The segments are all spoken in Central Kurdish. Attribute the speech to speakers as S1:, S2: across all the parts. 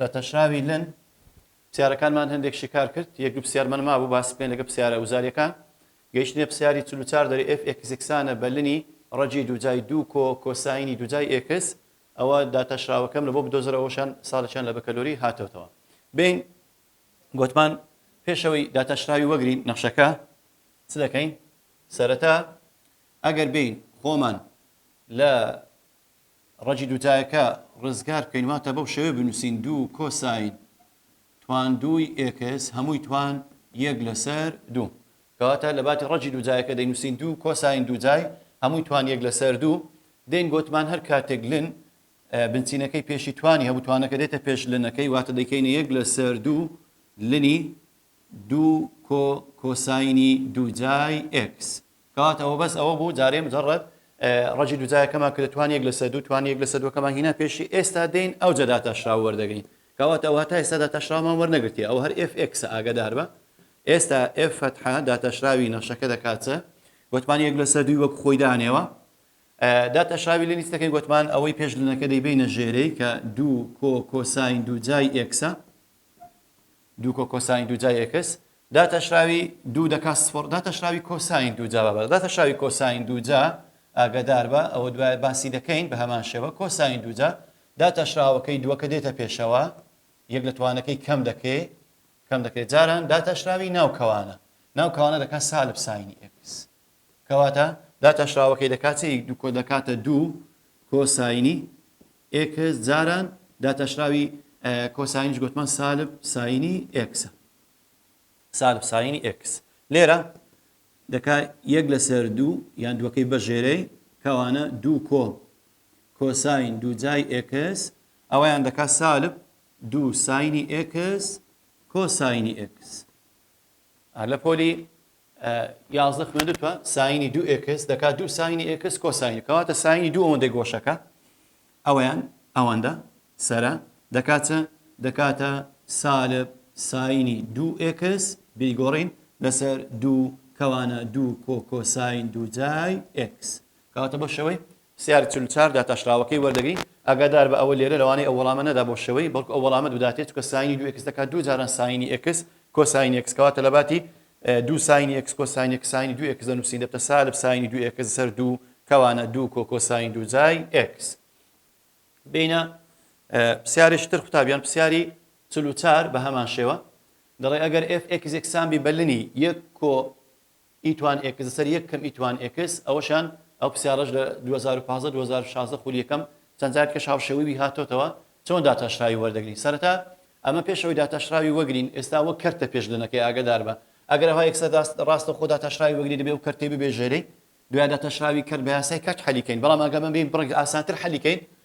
S1: لە تەشراوی لن پسیارەکانمان هەندێک شیکار کرد، یەک دوو پسیارمان مابوو باسی بکەین لەگەڵ پسیارە وزاریەکان، گەیشتینە پسیاری چل و چار دەرێ ئێف ئێکس یەکسانە بە لنی ڕەجی دووجای دوو کۆ کۆساینی دووجای ئێکس، ئەوە داتا شراوەکەم لە بۆ بدۆزەرە ئەوەشان ساڵێکیان لە بەکەلۆری هاتۆتەوە بێین گۆتمان پێشەوەی داتا شراوی وەگرین نەخشەکە چ دەکەین سەرەتا ئەگەر بێین خۆمان لە ڕەگی دوو تایەکە ڕزگار بکەین واتە بەو شێوەیە بنووسین دوو کۆساین توان دووی ئێکس هەمووی توان یەک لەسەر دوو کەواتە لە باتی ڕەگی دوو جایەکە دەینووسین دوو کۆساین دوو جای هەمووی توان یەک لەسەر دوو دێین گۆتمان هەر کاتێک لن بنچینەکەی پێشی توانی هەبوو توانەکە دێتە پێش لنەکەی واتە دەکەینە یەک لەسەر دوو لنی دوو کۆ کۆساینی دوو جای ئێکس کەواتە ئەوە بەس ئەوە بوو جارێ مجەڕەد ڕەجی دووجایەکەمان کە توان یەک لەسەر دوو توان یەک لەسەر دووەکەمان هینا پێشی ئێستا دێین ئەو جەدا تاشراو وەردەگرین کەواتە ئەوە تا ئێستا داتاشراومان وەرنەگرتیە ئەو هەر FX ئاگدار بە ئێستا F فتحە داتاشراوی نەخشەکە دەکاتە گوتمان یەک لەسەر دووی وەک خۆی دانێەوە داتاشراوی لە لیستەکەی گوتمان ئەوەی پێش لەنەکە دەیبینە ژێرەی کە دوو کۆ کۆساین دوو جای ئێکسە دوو کۆ کۆساین دوو جا یەکس داتاشراوی دوو دەکا سفڕ داتاشراوی کۆساین دوو جا بە داتاشراوی کۆساین دوو جا ئاگادار بە ئەوە دوای باسی دەکەین بە هەمان شێوە کۆساین دوو جا داتاشراوەکەی دووەکە دێتە پێشەوە یەک لە توانەکەی کەم دەکەی کەم دەکرێت جاران داتاشراوی ناو کەوانە ناو کەوانە دەکات سالب ساینی ئکس کەواتە داتاشراوەکەی دەکاتەی دوو کۆ دەکاتە دوو کۆساینی ئێکس، جاران، داتاشراوی کۆساینیش گۆتمان سالب ساینی ئێکسە. سالب ساینی ئێکس لێرە دەکا یەک لەسەر دوو یان دووەکەی بەژێرەی کەوانە دوو کۆ کۆساین دووجای ئێکس ئەوەیان دەکا سالب دوو ساینی ئێکس کۆساینی ئێکس. لە پۆلی یازدە خوێندتوە ساینی دوو ئێکس دەکات دوو ساینی ئێکس کۆساینی کەواتە ساینی دوو ئەوەندەی گۆشەکە ئەویان ئەوەندە سرە دەکاتە دەکاتە سالب ساینی دوو ئێکس بیگۆڕین لەسەر دوو کەوانە دوو کۆ کۆساین دوو جای ئێکس کەواتە بەشەوەی سیار چل و چار داتاشراوەکەی وەردەگری، ئاگادار بە ئەوە لێرە لەوانەیە ئەو وەڵامە نەدا بۆ شەوەی بەڵکو ئەو وەڵامەت بداتێ چونکە ساینی دوو ئێکس دەکات دوو جاران ساینی ئێکس کۆساینی ئێکس کەواتە لەباتی دوو ساینی ئێکس کۆساینی ئێکس ساینی دوو ئێکس دەنووسین دەبتە سالب ساینی دوو ئێکس سەر دوو کەوانە دوو کۆ کۆساین دوو جای ئێکس بینە پسیارێکی تر قوتابیان پسیاری چل و چار بە هەمان شێوە دەڵێ ئەگەر ئێف ئێکس یەکسان بی بە لنی یەک کۆ ئی توان ئێکس لەسەر یەک کەم ئی توان ئێکس ئەوەشان ئەو پرسیارەش لە دوو هەزار و پازدە دوو هەزار و شازدە خولی یەکەم چەند جار کەش هاوشێوەی وی هاتۆتەوە چۆن داتاشراوی وەردەگرین سەرەتا ئەمە پێش ئەوەی داتاشراوی وەگرین ئێستا وەک کەرتە پێش لەنەکەی ئاگەداربە ئەگەر ئەوها یەکسەر راست راستە خۆ داتاشراوی وەگری دەبێ ئەو کەرتەی ببێ ژێرەی دوای داتاشراوی کەرت بە یاسای کەرت حەلی کەین بەڵام ئەگەر بەمبێین بڕێک ئاسانتر حەلی کەین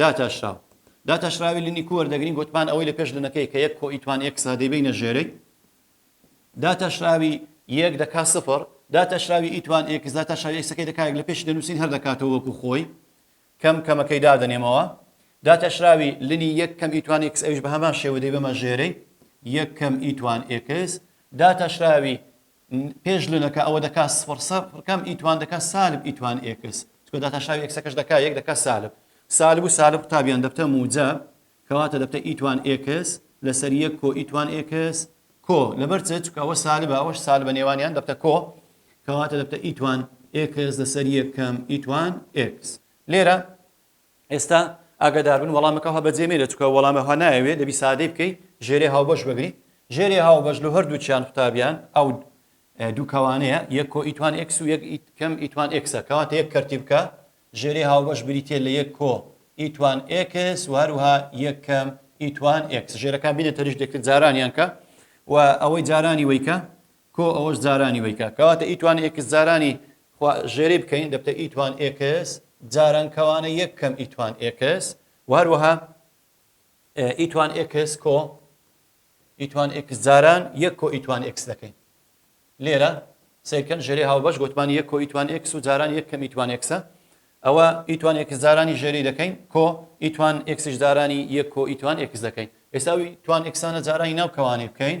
S1: داتاشراو، داتاشراوی لنی کو وەردەگرین گۆتمان ئەوەی لە پێش لنەکەی کە یەک کۆ ی توان ئێکسە دەیبەینە ژێرەی داتاشراوی یەک دەکا سفر، داتاشراوی ی توان ئێکس داتاشراوی ئێکسەکەی دەکا یەک لە پێشی دەنووسین هەر دەکاتەوە وەکوو خۆی کەم کەمەکەی دادەنێمەوە داتاشراوی لنی یەک کەم ی توان ئێکس ئەویش بە هەمان شێوە دەیبەمە ژێرەی یەک کەم ی توان ئێکس داتاشراوی پێش لە دەکا ئەوە دەکا سفڕ سفڕ کەم ئی توان دەکا سالب ئی توان ئێکس چکە داتاشاوی ئێکسەکەش دەکا یەک دەکا سالب سالب و سالب قوتابیان دەبتە موجە کەواتە دەبتە ئی توان ئێکس لەسەر یەک کۆ ئی توان ئێکس کۆ لەبەر چ چکە ئەوە سالبە ئەوەش سالبە نێوانیان دەبتە کۆ کەواتە دەبتە ئی توان ئێکس لەسەر یەکەم ئی توان ئێکس لێرە ئێستا ئاگەداربن وەڵامەکە هەوە بەجێ مێنێ چونکە وەڵامە هەوە نایەوێ دەبی سادەی بکەی ژێرێ هاوبەش بگری ژێرێ هاوبەش لە هەردووچیان قوتابیان ئەو دوو کەوانەیە یەک کۆ ئیتوان ئێکس و یەک کەم ئیتوان ئێکسە کەواتە یەک کەرتی بکە ژێرێ هاوبەش بریتێ لە یەک کۆ ئیتوان ئێکس و هەروها یەک کەم ئیتوان ئێکس ژێرەکان بینە تەریش دەکرد جارانیان کە و ئەوەی جارانی وەیکە کو ئەوەش جارانی وەی کا. کەواتە ئیتوان ئێکس جارانی خوا ژێرەی بکەین دەبتە ئیتوان ئێکس جاران کەوانە یەک کەم ئیتوان ئێکس وە هەروەها ئیتوان ئێکس کۆ ئیتوان ئێکس جاران یەک کۆ ئیتوان ئێکس دەکەین لێرە سیرکەن ژێری هاوبەش گوتمان یەک کۆ ئیتوان ئێکس و جاران یەک کەم ئیتوان ئێکسە ئەوە ئیتوان ئێکس جارانی ژێری دەکەین کۆ ئیتوان ئێکسش جارانی یەک کۆ ئیتوان ئێکس دەکەین ئێساوی توان ئێکسانە جارانی ناوکەوانی بکەین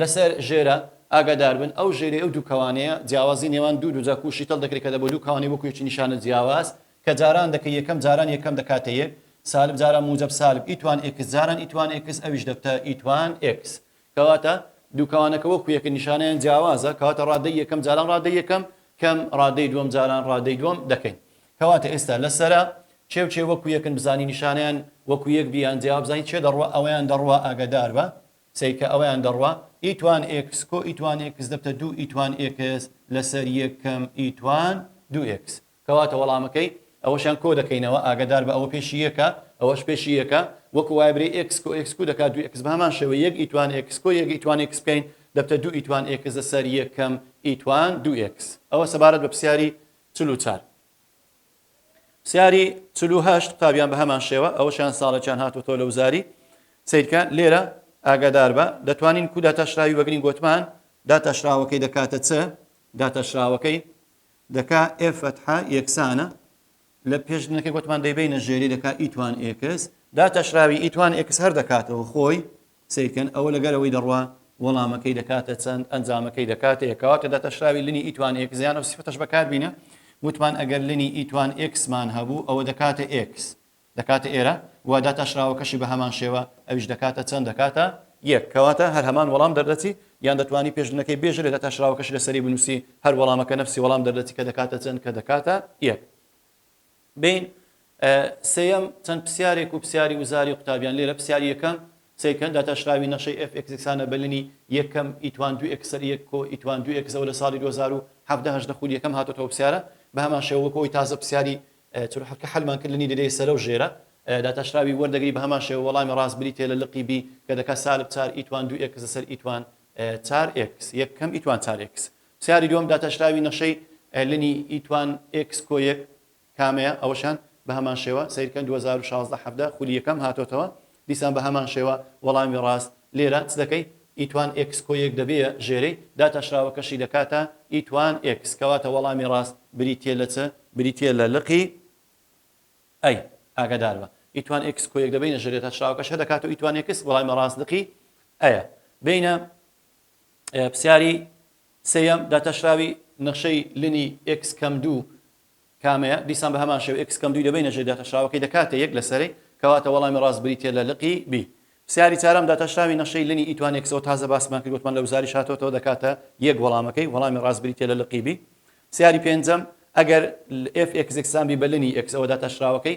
S1: لەسەر ژێرە ئاگادار بن، ئەو ژێرەی ئەو دوو کەوانەیە، جیاوازی نێوان دوو دووجا کوو شیتەڵ دەکرێت کە دەبۆ دوو کەوانەی وەکوو یەکی نیشانە جیاواز کە جاران دەکەی یەکەم جاران یەکەم دەکاتە یەک سالب جاران موجەب سالب ئیتوان ئێکس جاران ئیتوان ئێکس ئەویش دەبتە ئیتوان ئێکس کەواتە دوو کەوانەکە وەکوو یەکە نیشانەیان جیاوازە کەواتە ڕادەی یەکەم جاران ڕادەی یەکەم کەم ڕادەی دووەم جاران ڕادەی دووەم دەکەین کەواتە ئێستا لەسەرە چێ و چێ وەکوو یەکن بزانی نیشانەیان وەکوو یەک بیان جیاواب بزانین چێ دەڕوا ئەوەیان دەڕوا ئاگادار بە سەی کە ئەویان دەڕوا ئیتوان ئێکس کۆ ئیتوان ئێکس دەبتە دوو ئیتوان ئێکس لەسەر یەک کەم ئیتوان دوو ئێکس کەواتە وەڵامەکەی ئەوەشیان کۆ دەکەینەوە ئاگەدار بە ئەوە پێشی یەکە ئەوەش پێشی یەکە وەکو وایە برێی ئێکس کۆ ئێکس کو دەکات دوو ئێکس بەهەمان شێوە یەک ئیتوان ئێکس کۆ یەک ئیتوان ئێکس بکەین دەبتە دوو ئیتوان ئێکس لەسەر یەک کەم ئیتوان دوو ئێکس ئەوە سەبارەت بە پرسیاری چل و چار. سیاری چل و هەشت قوتابیان بە هەمان شێوە ئەوەشیان ساڵێکیان هاتوەتەوە لە وزاری سیرکە لێرە ئاگادار بە دەتوانین کو داتاشراوی وەگرین گۆتمان داتاشراوەکەی دەکاتە چ داتاشراوەکەی دەکا ئێ فەتحە یەکسانە لە پێش نەکە گۆتمان دەیبینە ژێری دەکا ئیتوان ئێکس داتاشراوی ئیتوان ئێکس هەر دەکاتەوە خۆی سەیرکەن ئەوە لەگەر ئەوەی دەڕوا وەڵامەکەی دەکاتە چەند ئەنجامەکەی دەکاتە یەک کەواتە دەتەشراوی لنی ئیتوان ئێکس یان ئەو سیفەتەش بەکاربینە وتمان ئەگەر لنی ئیتوان ئێکسمان هەبوو ئەوە دەکاتە ئێکس دەکاتە ئێرە و داتاشراوەکەشی بە هەمان شێوە ئەویش دەکاتە چەند دەکاتە یەک کەواتە هەر هەمان وەڵام دەردەچی یان دەتوانی پێش لنەکەی بێژە لە داتاشراوەکەشی لەسەری بنووسی هەر وەڵامەکە نەفسی وەڵام دەردەچی کە دەکاتە چەند کە دەکاتە یەک بین سێیەم چەند پسیارێک و پسیاری وزاری قوتابیان لێرە پسیاری یەکەم سەیرکەن داتاشراوی نەخشەی ئێف ئێکس یەکسانە بە لنی یەک کەم ئیتوان دوو ئێکس سەر یەک کۆ ئیتوان دوو ئێکس ئەوە لە ساڵی دوو هەزار و حەڤدە هەژدە خولی یەکەم هاتۆتەوە پسیارە بە هەمان شێوە وەکو ئەوی تازە پسیاری چل و حەفت کە حەلمان کرد لنی دەدەیە سەرە و ژێرە داتاشراوی وەردەگری بە هەمان شێوە وەڵامی ڕاست بریتیە لە لقی بی کە دەکات سالب چار ئیتوان دوو ئێکس لەسەر ئیتوان چار ئێکس یەک کەم ئیتوان چار ئێکس پرسیاری دووەم، داتاشراوی نەخشەی لنی ی توان ئێکس کۆ یەک کامەیە؟ ئەوەشیان بە هەمان شێوە سەیر کەن دوو هەزار و شازدە حەڤدە خولی یەکەم هاتۆتەوە دیسان بە هەمان شێوە وەڵامی ڕاست لێرە چ دەکەی ی توان ئێکس کۆ یەک دەبێیە ژێرەی داتاشراوەکەشی دەکاتە ی توان ئێکس کەواتە وەڵامی ڕاست بریتیە لە چ؟ بریتیە لە لقی ئەی ئاگاداربە ی توان ئێکس کۆ یەک دەبەینە ژێرەی داتاشراوەکەش هەدەکاتەوە ی توان ئێکس وەڵامی ڕاست لقی ئەیە بێینە پرسیاری سێیەم، داتاشراوی نەخشەی لنی ئێکس کەم دوو کامەیە؟ دیسان بە هەمان شێوە ئێکس کەم دووی دەبەینە ژێر داتاشراوەکەی دەکاتە یەک لە سەرەی، کەواتە وەڵامی ڕاست بریتییە لە لقی بی. پرسیاری چارەم، داتاشراوی نەخشەی لنی ئیتوان ئێکسەوە تازە باسمان کرد وتمان لە وزاریش هاتۆتەوە دەکاتە یەک وەڵامەکەی، وەڵامی ڕاست بریتییە لە لقی بی. پرسیاری پێنجەم، ئەگەر ئێف ئێکس یەکسان بی بە لنی ئێکس ئەوە داتاشراوەکەی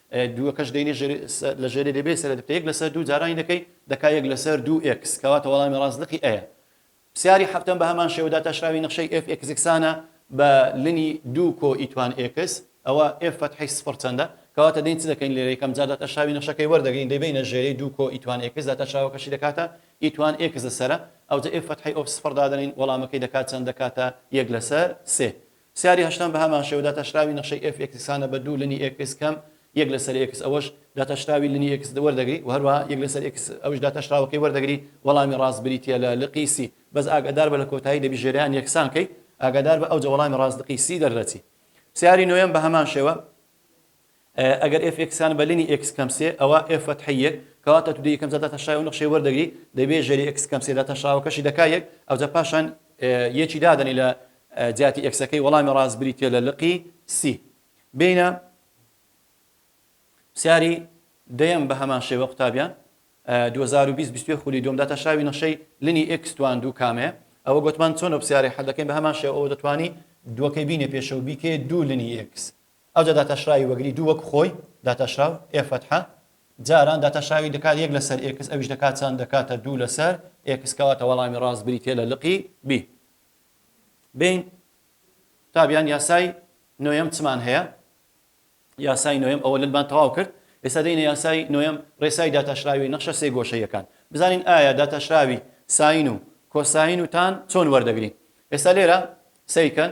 S1: دووەکەش دەینێ ژێر لە ژێرێ دەبێ سەرێ دەکتە یەک لەسەر دوو جارانی دەکەی دەکا یەک لەسەر دوو ئێکس کەواتە وەڵامی ڕاست لقی ئەیە پسیاری حەفتەم بە هەمان شێوە داتاشراوی نەخشەی ئێف ئێکس یەکسانە بە لنی دوو کۆ ئیتوان ئێکس ئەوە ئێف فەتحی سفر چەندە کەواتە دەین چ دەکەین لێرە یەکەم جار داتاشراوی نەخشەکەی وەردەگرین دەیبینە ژێرەی دوو کۆ ئیتوان ئێکس داتاشراوەکەشی دەکاتە ئیتوان ئێکس لەسەرە ئەوجە ئێف فەتحی ئۆف سفر دادەنین وەڵامەکەی دەکات چەند دەکاتە یەک لەسەر سێ سیاری هەشتەم بە هەمان شێوە داتاشراوی نەخشەی ئێف ئێکس یەکسانە بە دوو لنی ئێکس کەم یەک لەسەر ئێکس ئەوەش داتاشراوی لنی ئێکس وەردەگری و هەروەها یەک لەسەر ئێکس ئەوش داتاشراوەکەی وەردەگری وەڵامی ڕاست بریتیە لە لقی سی بەس ئاگادار بە لە کۆتایی دەبی ژێریان یەکسان کەی ئاگادار بە ئەوجە وەڵامی ڕاست لقی سی دەردەچی سیاری نۆیەم بە هەمان شێوە ئەگەر ئێف ئێکس یان بە لینی ئێکس کەم سێ ئەوا ئێف فەتحی یەک کەواتە تو دە یەکەم جار داتەشای و نەخشەی وەردەگری دەبێ ژێری ئێکس کەم سێ داتەشاوەکەشی دەکا یەک ئەوجا پاشان یەکی دادەنی لە جیاتی ئێکسەکەی وەڵامی ڕاست بریتیە لە لقی سی بینە پرسیاری دەیەم بە هەمان شێوە قوتابیان 2020 خولی دوم داتا شاوی نەشەی لنی ئکس توان دوو کامێ ئەوە گوتمان چۆن پرسیاری حەدەکەین بە هەمان شێوە ئەوە دەتوانی دووەکەی بینێ پێشەوە بیکێ دوو لنی ئکس ئەوجا داتاشراوی وەگری دوو وەک خۆی داتاشراو، ئێ فەتحە، جاران داتاشراوی دەکات یەک لەسەر ئێکس ئەویش دەکات چەند دەکاتە دوو لەسەر ئێکس کەواتە وەڵامی ڕاست بریتیە لە لقی بی بین تابیان یاسای نۆیەم چمان هەیە یاسای نۆیەم ئەوە لەلبان تەواو کرد ئێستا دەینە یاسای نۆیەم ڕێسای داتاشراوی نەخشە سێ گۆشەیەکان بزانین ئایا داتاشراوی ساین و کۆساین و تان چۆن وەردەگرین ئێستا لێرە سەیکەن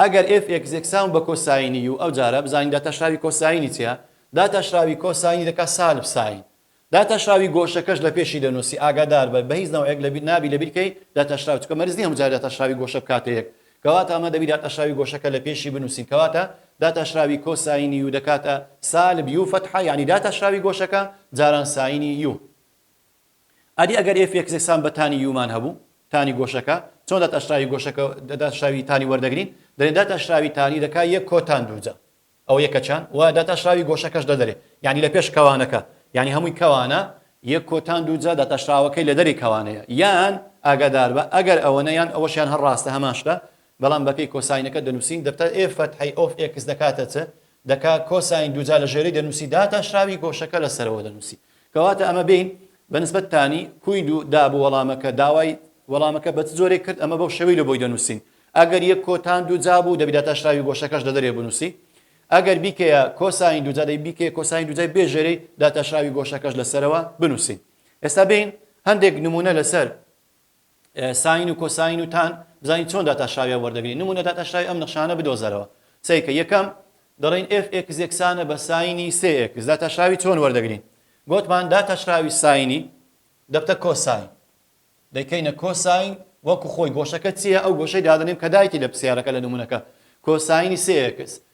S1: ئەگەر ئێف ئێکس یەکسان بە کۆساینی یوو ئەوجارە بزانین داتاشراوی کۆساینی چیە؟ داتاشراوی کۆساینی دەکات سالب ساین. داتاشراوی گۆشەکەش لە پێشی دەنووسی ئاگاداربە بە هیچ نەوعێک لە بیر نابی لە بیر کەی داتاشراوی چونکە مەرج نیە هەموو جارێ داتاشراوی گۆشە بکاتە یەک کەواتە ئەمە دەبی داتاشراوی گۆشەکە لە پێشی بنووسین کەواتە داتاشراوی کۆساینی یوو دەکاتە سالب یوو فەتحە یانی داتاشراوی گۆشەکە جاران ساینی یوو ئەدی ئەگەر ئێف ئێکس یەکسان بە تانی یومان هەبوو، تانی گۆشەکە، چۆن داتاشراوی گۆشەکە داتاشراوی تانی وەردەگرین؟ دەلێن داتاشراوی تانی دەکا یەک کۆ تان دوو جا. ئەوە یەکە چان وە داتاشراوی گۆشەکەش دەدەرێ یانی لە پێش کەوانەکە یانی هەمووی کەوانە یەک کۆ تان دوو جا داتاشراوەکەی لە دەرێ کەوانەیە یان ئاگاداربە ئەگەر ئەوەنە یان ئەوەشیان هەر ڕاستە هەمان شتە بەڵام بە پێی کۆساینەکە دەنووسین دەتە ئێف فەتحەی ئۆف ئێکس دەکاتە چ دەکا کۆساین دوو جا لە ژێرەی دەنووسی داتاشراوی گۆشەکە لە سەرەوە دەنووسی. کەواتە ئەمە بین بە نسبەت تانی، کوید و دا بۆ وەڵامەکە، داوای وەڵامەکە بە چ جۆرێک کرد، ئەمە بەو شێوەی لە بۆی دەنووسین. ئەگەر یک کۆ تان دووجا بوو، دەبی داتاشراوی گۆشەکەش لە دەرێ بنووسی. ئەگەر بیکەیە کۆساین دووجا، دەبی بیکەیە کۆساین دووجای بێ ژێرەی داتاشراوی گۆشەکەش لە سەرەوە بنووسین. ئێستا بێین هەندێک نموونە لە سەر. ساین و کۆساین و تان بزانین چۆن داتاشراویان وەردەگرین نمونە داتاشراوی ئەم نەخشانە بدۆزەرەوە سەیکە یەکەم دەڵێن ئێف ئێکس یەکسانە بە ساینی سێ ئێکس داتاشراوی چۆن وەردەگرین گۆتمان داتاشراوی ساینی دەبتە کۆساین دەیکەینە کۆساین وەکو خۆی گۆشەکە چییە ئەو گۆشەی دادەنیم کە دایتی لە پرسیارەکە لە نمونونەکە کۆساینی سێ ئێکس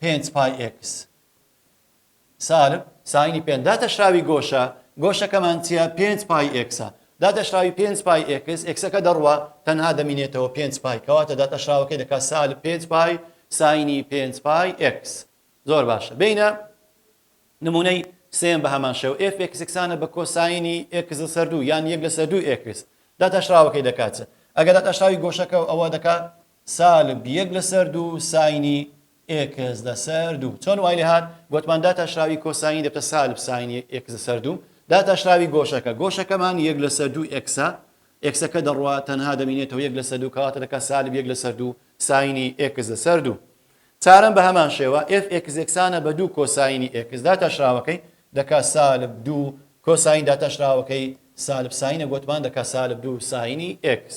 S1: پێنج پای ئێکس سالب ساینی پێنج داتەشراوی گۆشە گۆشەکەمان چیە پێنج پای ئێکسە داتەشراوی پێنج پای ئێکس ئێکسەکە دەڕوە تەنها دەمینێتەوە پێنج پای کەواتە داتەشراوەکەی دەکات سالب پێنج پای ساینی پێنج پای ئێکس زۆر باشە بینە نمونەی سێم بە هەمان شێو ئێف ئێکسکسانە بە کۆساینی ئێکس لەسەر دوو یان یەک لەسەر دوو ئێکس داتاشراوەکەی دەکاتە ئەگەر داتاشراوی گۆشەکە ئەوە دەکات سالب یەک لەسەر دوو ساینی ئێکس لەسەر دوو. چۆن وای لێ هات؟ گۆتمان داتاشراوی کۆساینی دەبتە سالب ساینی ئێکس لەسەر دوو. داتاشراوی گۆشەکە. گۆشەکەمان یەک لەسەر دوو ئێکسە. ئێکسەکە دەڕوا تەنها دەمینێتەوە یەک لەسەر دوو کەواتە دەکا سالب یەک لەسەر دوو ساینی ئێکس لەسەر دوو. چارەم بە هەمان شێوە ئێف ئێکس یەکسانە بە دوو کۆساینی ئێکس داتاشراوەکەی دەکا سالب دوو کۆساین داتاشراوەکەی سالب ساینە گۆتمان دەکا سالب دوو ساینی ئێکس.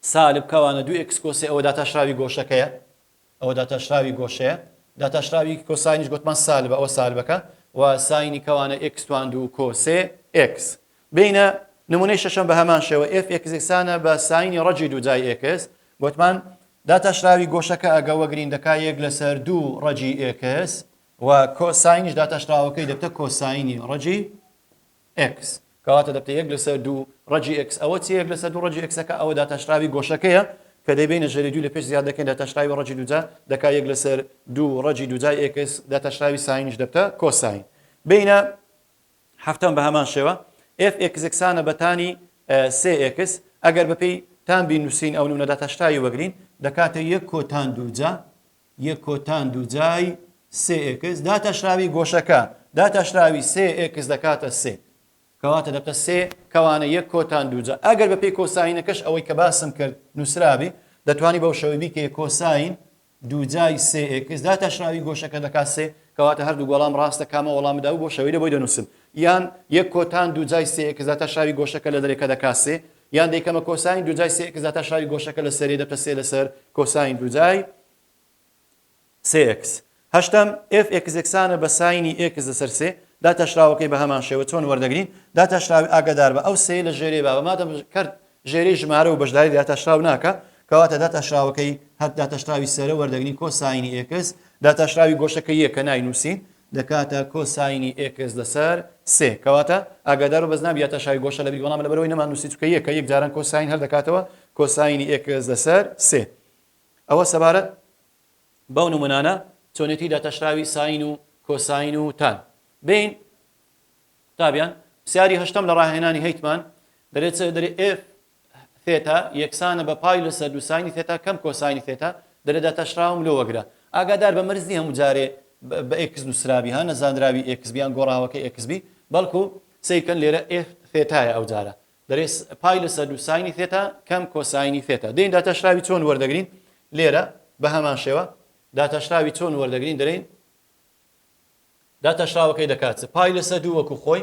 S1: سالب کەوانە دوو ئێکس کۆسێ ئەوە داتاشراوی گۆشەکەیە ئەوە داتاشراوی گۆشەیە داتاشراوی کۆساینیش گوتمان سالبە ئەوە سالبەکە و ساینی کەوانە ئێکس توان دوو کۆسێ ئێکس بینە نمونەی شەشەم بە هەمان شێوە ئێف ئێکسێکسانە بە ساینی ڕەجی دوو جای ئێکس گوتمان داتاشراوی گۆشەکە ئەگە وەگرین دەکا یەک لەسەر دوو ڕەجی ئێکس و کۆساینیش داتاشراوەکەی دەبتە کۆساینی ڕەجی ئێکس. کەواتە دەبتە یەک لەسەر دوو ڕەجی ئێکس. ئەوە چیە یەک لەسەر دوو ڕەجی ئێکسەکە؟ ئەوە داتاشراوی گۆشەکەیە کە دەیبەینە ژەری دووی لە پێش زیاد دەکەین داتاشراوی ڕەجی دووجا دەکا یەک لەسەر دوو ڕەجی دووجای ئێکس داتاشراوی ساینیش دەبتە کۆساین. بینە حەفتەم بە هەمان شێوە ئێف ئێکس یەکسانە بە تانی سێ ئێکس ئەگەر بە پێی تان بینوسین ئەو نوونە داتاشراوی وەگرین دەکاتە یەک کۆتان دووجا یەک کۆتان دووجای سێ ئێکس داتاشراوی گۆشەکە داتاشراوی سێ ئێکس دەکاتە سێ کەواتە دەبتە سێ کەوانە یەک کۆتان دووجا ئەگەر بەپێی کۆساینەکەش ئەوەی کە باسم کرد نووسرابێ دەتوانی بەو شەوەی بیکەیە کۆساین دووجای سێ ئێکس داتاشراوی گۆشەکە دەکات سێ کەواتە هەردوو گۆڵام ڕاستە کامە وەڵام داو بۆ شەوەی لە بۆی دەنووسم یان یەک کۆتان دووجای سێ ئێکس داتاشراوی گۆشەکە لە دەرێکە دەکات سێ یان دەیکەمە کۆساین دووجای سێ ئێکس داتا شاوی گۆشەکە لە سەرێ دەبتە سێ لەسەر کۆساین دووجای سێ ئێکس. هەشتەم، ئێف ئێکس یەکسانە بە ساینی ئێکس لەسەر سێ، داتاشراوەکەی بە هەمان شێوە چۆن وەردەگرین؟ داتاشراوی ئاگادار بە ئەو سێیە لە ژێرێ بابە مادەم کەرت ژێرەی ژمارە و بەشداری لە داتاشراو ناکا، کەواتە داتاشراوەکەی هەر داتاشراوی سەرە وەردەگرین کۆساینی ئێکس، داتاشراوی گۆشەکە یەکە ناینووسین، دەکاتە کۆ ساینی ئێکس لەسەر سێ کەواتە ئاگادارو بەس نابیاتە شای گۆشە لەبیری وەڵامە لەبەرئەوەی نەمان نوسی چونکە یە کە یەک جاران کۆ ساین هەر دەکاتەوە کۆ ساینی ئێکس لەسەر سێ ئەوە سەبارەت بەو نمونانە چۆنێتی داتاشراوی ساین و کۆ ساین و تان بین قوتابیان پسیاری هەشتەم لە ڕاهێنانی هەیتمان دەرێت دەرێ ئێف ثێتا یەکسانە بە پای لەسەر دوو ساینی ثێتا کەم کۆساینی ثێتا، دەرێ داتاشراوم لۆ وەگرە. ئاگادار بە مەرج نیە هەموو جارێ بە ئێکس نوسرابی ها نەزانراوی ئێکس بی یان گۆڕاوەکەی ئێکس بی بەڵکو سەیر کەن لێرە ئێ ثێتایە ئەوجارە دەرێ پای لەسەر دوو ساینی ثێتا کەم کۆساینی ثێتا دەین داتاشراوی چۆن وەردەگرین لێرە بە هەمان شێوە داتاشراوی چۆن وەردەگرین دەرێین داتاشراوەکەی دەکات پای لەسەر دوو وەکو خۆی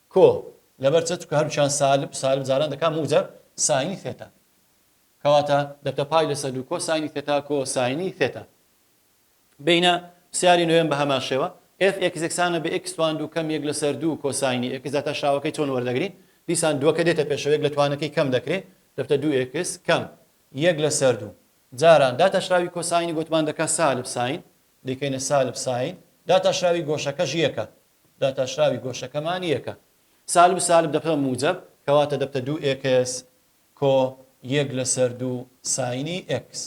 S1: کو لەبەر چە چکە هەرچیان سالب سالب جاران دەکا موجە ساینی ثێتا کەواتە دەبتە پای لەسە دوو کۆ ساینی ثێتا کۆ ساینی ثێتا بینە پسیاری نوێم بە هەمان شێوە ئێف ئێکس یەکسانە بە ئێکس توان دوو کەم یەک لەسەر دوو کۆ ساینی ئێکس داتە شاوەکەی چۆن وەردەگرین دیسان دووەکە دێتە پێشەوە یەک لە توانەکەی کەم دەکرێ دەبتە دوو ئێکس کەم یەک لەسەر دوو جاران داتاشراوی کۆساینی گوتمان دەکا سالب ساین دیکەینە سالب ساین داتاشراوی گۆشەکەش یەکە داتاشراوی گۆشەکەمان یەکە. سالب سالب دەبتە موجەب کەواتە دەبتە دوو ئێکس کۆ یەک لەسەر دوو ساینی ئێکس.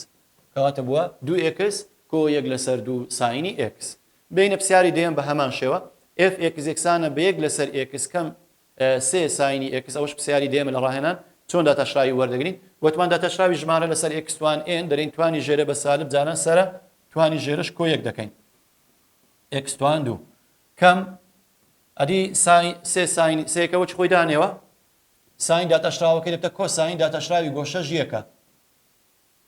S1: کەواتە بووە دوو ئێکس کۆ یەک لەسەر دوو ساینی ئێکس. بێینە پرسیاری دەیەم بە هەمان شێوە. ئێف ئێکس یەکسانە بە یەک لەسەر ئێکس کەم سێ ساینی ئێکس. ئەوەش پرسیاری دەیەمە لە ڕاهێنان چۆن داتاشراوی وەردەگرین. وتمان داتاشراوی ژمارە لەسەر ئێکس توان ئێن دەرێین توانی ژێرە بە سالب جاران سەرە توانی ژێرەش کۆ یەک دەکەین. ئێکس توان دوو کەم ئەدی ساین سێ ساین سێکە وەچ خۆی دانێوە ساین داتاشراوەکەی دەبتە کۆساین داتاشراوی گۆشەش یەکە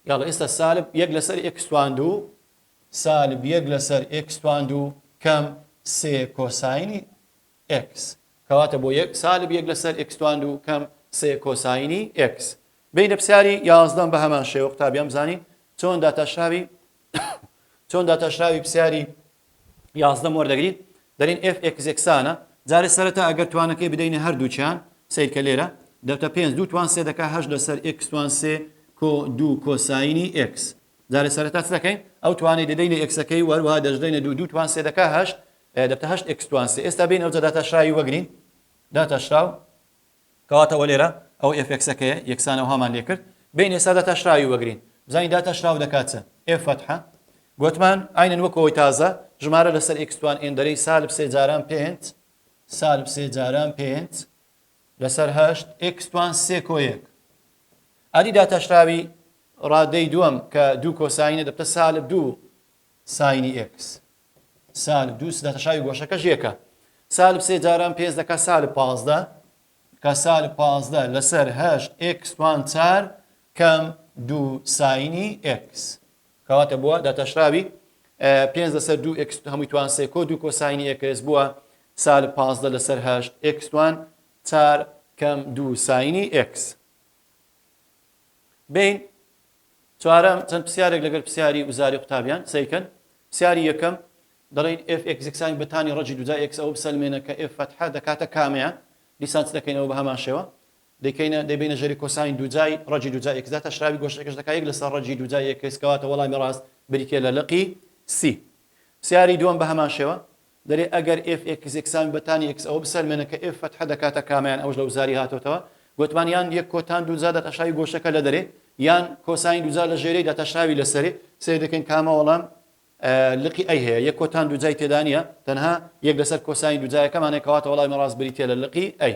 S1: یاڵە ئێستا سالب یەک لەسەر ئێکس توان دوو سالب یەک لەسەر ئێکس توان دوو کەم سێ کۆساینی ئێکس کەواتە بۆ یەک سالب یەک لەسەر ئێکس توان دوو کەم سێ کۆساینی ئێکس بینە پرسیاری یازدەم بە هەمان شێوە قوتابیان بزانین چۆن داتاشراوی چۆن داتاشراوی پسیاری یازدەم وەردەگرین دەرین ئف ئێکزێکسانە جارێ سەرەتا ئەگەر توانەکەی بدەینە هەردووچیان سیرکە لێرە دەتە پێنج دوو توان سێ دەکە هەش لەسەر ئێکسوان سێ کۆ دوو کۆسایینی ئێکس جارێ سەرەتا چ دەکەین ئەو توانەی دەدەینە ئێکسەکەی وەروە دەژدەینە دوو دوو توان سێ دەکە هەشت دەتە هەشت ئێکسوان سێ ئێستا بین ئەوجە داتاشراوی وەگرین داتاشراو کەواتە ئەوە لێرە ئەو ئێف ئێکسەکەیە یەکسان ئەوهامان لێ کرد بێین ئێستا داتاشراوی وەگرین بزانین داتاشراو دەکات چ ئێف فەتحە گۆتمان ئاینەن وەک ئەوەی تازە ژمارە لەسەر ئێکس توان ئێن دەرەی سالب سێ جاران پێنج سالب سێ جاران پێنج لەسەر هەشت ئێکس توان سێ کۆ یەک ئەدی داتاشراوی ڕادەی دووەم کە دوو کۆساینە دەبتە سالب دوو ساینی ئێکس سالب دوو سدە تەشاوی گۆشەکەش یەکە سالب سێ جاران پێنج دەکا سالب پازدە کە سالب پازدە لەسەر هەشت ئکس توان چار کەم دوو ساینی ئکس کەواتە بووە داتاشراوی پێنج لەسەر دوو ئکس هەمووی توان سێ کۆ دوو کۆساینی ئکس بووە سالب پازدە لەسەر هەشت ئکس توان چار کەم دوو ساینی ئکس بین چوارەم، چەند پرسیارێک لەگەر پرسیاری وزاری قوتابیان سەیر کەن. پرسیاری یەکەم، دەڵێین ئێف ئێکس یەکسانی بە تانی ڕەجی دوو جا ئێکس ئەوە بسەلمێنە کە ئێف فەتحە دەکاتە کامەیان؟ دیسان چ دەکەینەوە بە هەمان شێوە دەیکەینە دەیبەینە ژەری کۆساین دوو جای ڕەجی دوو جا ئێکس دا تەشراوی گۆشەکەش دەکا یەک لەسەر ڕەجی دوو جا ئێکس کەواتە وەڵامی ڕاست بریتیە لە لقی سی. پرسیاری دووەم بە هەمان شێوە دەرێ ئەگەر ئێف ئێکس یەکسانبێ بە تانی ئێکس ئەوە بسەلمێنە کە ئێف فەتحە دەکاتە کامەیان ئەوەش لە وزاری هاتۆتەوە گۆتمان یان یەک کۆتان دووجا داتاشاوی گۆشەکە لە دەرێ یان کۆساین دووجا لە ژێرەی داتاشاوی لە سەرێ سەیر دەکەین کامە وەڵام لقی ئەی هەیە یەک کۆتان دووجای تێدانە تەنها یەک لەسەر کۆساین دووجایەکەمانێک کەواتە وەڵامی ڕاست بریتە لە لقی ئەی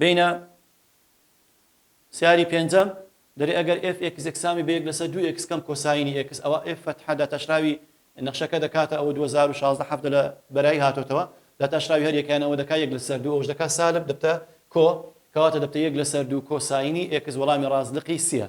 S1: بینە سیاری پێنجەم دەرێ ئەگەر ئێف ئێکس یەکسامی بە یەک لەسەر دوو ئێکس کەم کۆساینی ئێکس ئەوا ئێف فەتحە داتاشراوی نەخشەکە دەکاتە ئەوە دوو هەزار و شازدە حەڤدە لە بەرایی هاتۆتەوە داتاشراوی هەر یەکەیان ئەوە دەکا یەک لەسەر دوو ئەوش دەکا سالب دەبتە کۆ کەواتە دەبتە یەک لەسەر دوو کۆساینی ئێکس وەڵامی ڕاست لقی سیە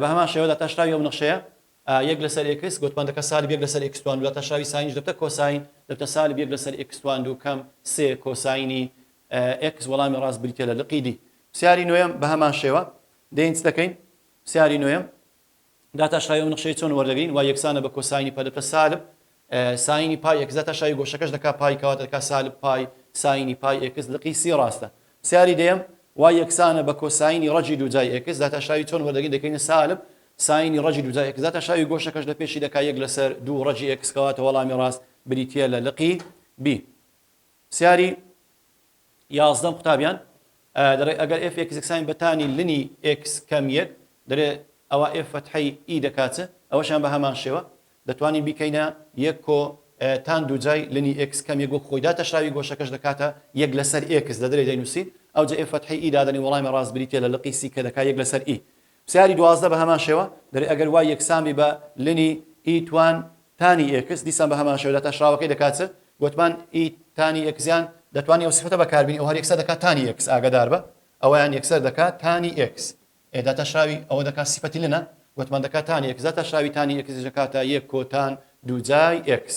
S1: بە هەمان شێوە داتاشراوی ئەو نەخشەیە یەک لەسەر ئێکس گۆتمان دەکا سالب یەک لەسەر ئێکس توان دوو داتاشراوی ساینیش دەبتە کۆساین دەبتە سالب یەک لەسەر ئێکس توان دوو کەم سێ کۆساینی ئێکس وەڵامی ڕاست بریتیە لە لقی دی پرسیاری نۆیەم بە هەمان شێوە دێین چ دەکەین پرسیاری نۆیەم داتاشراوی ئەو نەخشەیە چۆن وەردەگرین وای یەکسانە بە کۆساینی پە دەبتە سالب ساینی پای ئێکس دەتا شای گۆشەکەش دەکا پای کەواتە دەکا سالب پای ساینی پای ئێکس لقی سی ڕاستە سیاری دەیەم وای یەکسانە بە کۆساینی ڕەجی دووجای ئێکس داتا شاوی چۆن وەردەگین دەکەینە سالب ساینی ڕەجی دووجای ئێکس داتا شاوی گۆشەکەش لە پێشی دەکا یەک لەسەر دوو ڕەجی ئێکس کەواتە وەڵامی ڕاست بریتییە لە لقی بی سیاری یازدەم قوتابیان دەڵێ ئەگەر ئێف ئێکس یەکسانی بە تانی لنی ئێکس کەم یەک دەلێ ئەوا ئێف فەتحەی ئی دەکا چ؟ ئەوەشیان بە هەمان شێوە دەتوانین بیکەینە یەک کۆ تان دووجای لنی ئێکس کەم یەک وەک خۆی داتەشراوی گۆشەکەش دەکاتە یەک لەسەر ئێکس دەدرێ دەینووسین ئەوجە ئێف فەتحەی ئی دادەنی وەڵامی ڕاست بریتیە لە لقی سی کە دەکا یەک لەسەر ئی پرسیاری دوازدە بە هەمان شێوە، دەرێ ئەگەر وای یەکسان بی بە لنی ئی توان تانی ئێکس، دیسان بە هەمان شێوە داتاشراوەکەی دەکات چ؟ گۆتمان ئی تانی ئێکسیان دەتوانی ئەو سفەتە بەکار بینی، ئەوە هەر یەکسەر دەکات تانی ئێکس، ئاگەدار بە، ئەوەیان یەکسەر دەکات تانی ئێکس. ئێ داتاشراوی ئەوە دەکات سفەتی لنە؟ گۆتمان دەکات تانی ئێکس، داتاشراوی تانی ئێکسیش دەکاتە یەک کۆتان دووجای ئێکس.